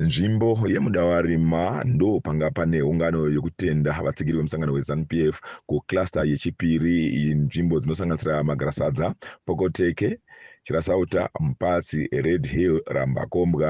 nzvimbo yemudawarima ndo panga pane ungano yekutenda vatsigiri vemusangano wezanup f kucluster yechipiri nzvimbo dzinosanganisira magarasadza pokoteke chirasauta mupatsi red hill rambakombwa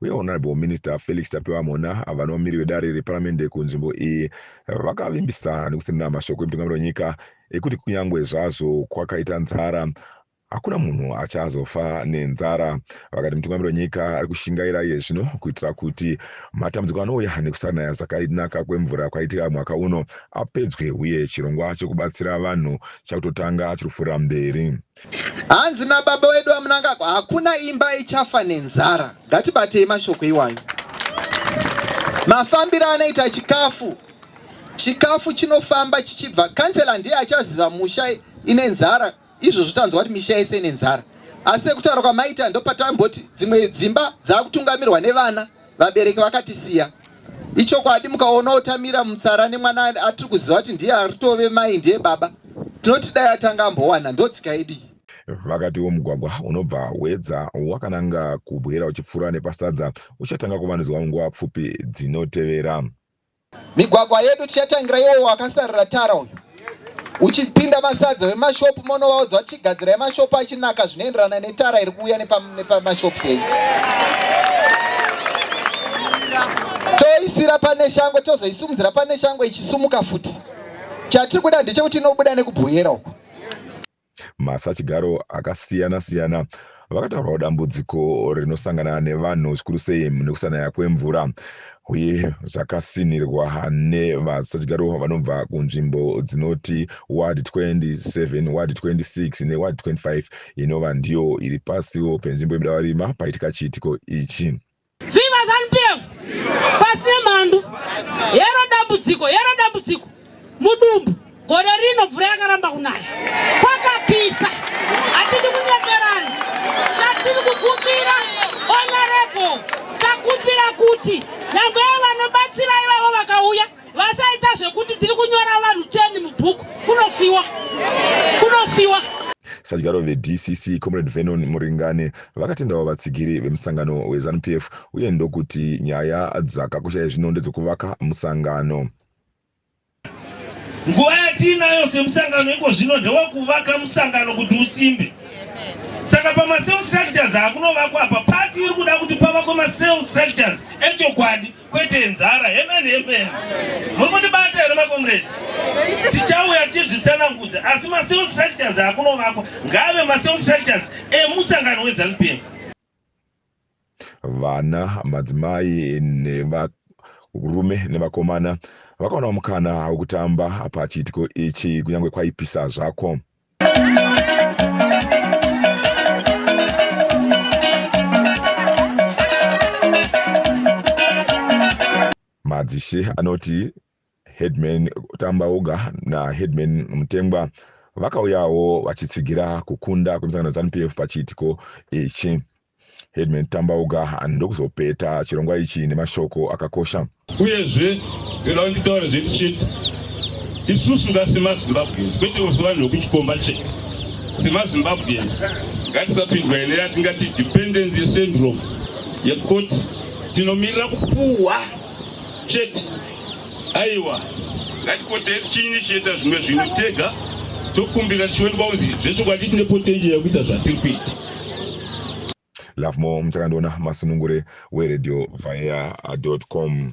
uye Honourable Minister Felix Tapiwa Mhona avo vanova miri wedare reparamende kunzvimbo iyi vakavimbisa nekusendera mashoko emutungamiri wenyika ekuti kunyange zvazvo kwakaita nzara hakuna munhu achazofa nenzara vakati mutungamiri wenyika ari kushingaira iye zvino kuitira kuti matambudziko anouya nekusanaya zvakanaka kwemvura kwaitika mwaka uno apedzwe uye chirongwa chekubatsira vanhu chakutotanga chiri kupfuura mberi Hanzi nababa wedu vaMnangagwa, hakuna imba ichafa nenzara. Ngatibatei mashoko iwayo. Mafambiro anoita chikafu, chikafu chinofamba chichibva. Kansela ndiye achaziva musha ine nzara, izvozvo tanzwa kuti misha yese ine nzara, asi sekutaura kwamaita ndopatamboti dzimwe dzimba dzakutungamirwa nevana. vabereki vakatisiya ichokwadi mukaona otamira mutsara nemwana atiri kuziva kuti ndiye aritove mai ndiye baba tinoti dai atanga ambowana ndotsika yedu iyi vakati womugwagwa unobva wedza wakananga kubwera uchipfuura nepasadza uchatanga kuvandudzwa munguva pfupi dzinotevera Migwagwa yedu tichatangira iwo wakasarira tara uyu uchipinda masadza vemashopu monovaudza kuti chigadzirai mashopu achinaka zvinoenderana netara iri kuuya nepamashops enyu toisira pane shango tozoisumudzira pane shango ichisumuka futi chatiri kuda ndechekuti inobuda nekubhoyera uko Masachigaro akasiyana siyana vakataurawo dambudziko rinosangana nevanhu zvikuru sei nekusanaya kwemvura uye zvakasinhirwa nevasachigaro vanobva kunzvimbo dzinoti ward 27 ward 26 neward 25 inova ndiyo iri pasiwo penzvimbo yebudawarima paitika chiitiko ichi Viva ZanuPF! Pasi nemhandu! Hero dambudziko, hero dambudziko! Mudumbu, gore rino mvura yakaramba kunaya. Kwakapisa! Hatidi kunyeperana. Chatiri kukumbira, honorable, takumbira kuti nyangwe vanobatsira ivavo vakauya Vasaita zvekuti tiri kunyora vanhu cheni mubhuku kunofiwa kunofiwa. Sadyaro veDCC Comrade Vernon Muringani vakatendawo vatsigiri vemusangano weZanu PF uye ndokuti nyaya dzakakusha yezvino ndedzekuvaka musangano. Nguva yatiinayo semusangano iko zvino ndewekuvaka musangano kuti usimbe. Saka pamaself structures akunovakwa apa pati iri kuda kuti pavakwe maself structures echokwadi. kwete nzara amen amen muri kundibata here makomredi tichauya tichizvitsanangudza asi maself structures akunovakwa ngaave maself structures emusangano wezanu p f vana madzimai neva rume nevakomana vakaona mukana wekutamba pachiitiko ichi kunyange kwaipisa zvako madzishe anoti headman tambauga naheadman mutengwa vakauyawo vachitsigira kukunda kwemisangano zanupf pachiitiko ichi Headman Tambauga ndokuzopeta chirongwa ichi nemashoko akakosha. Uyezve ndoda kuti titaure zvedu chete isusu nga semazimbabweans kwete kusi vanhu vekuchikomba chete semazimbabweans ngatisapindwa ine yatingati dependency syndrome yekuti tinomirira kupuhwa chete aiwa ngatikotei tichiinisheta zvimwe zvinhu tega tokumbira tichionekwa kunzi zvechokwadi tine potenje yekuita zvatiri kuita lovemore muchakandiona masunungure weredio vaya com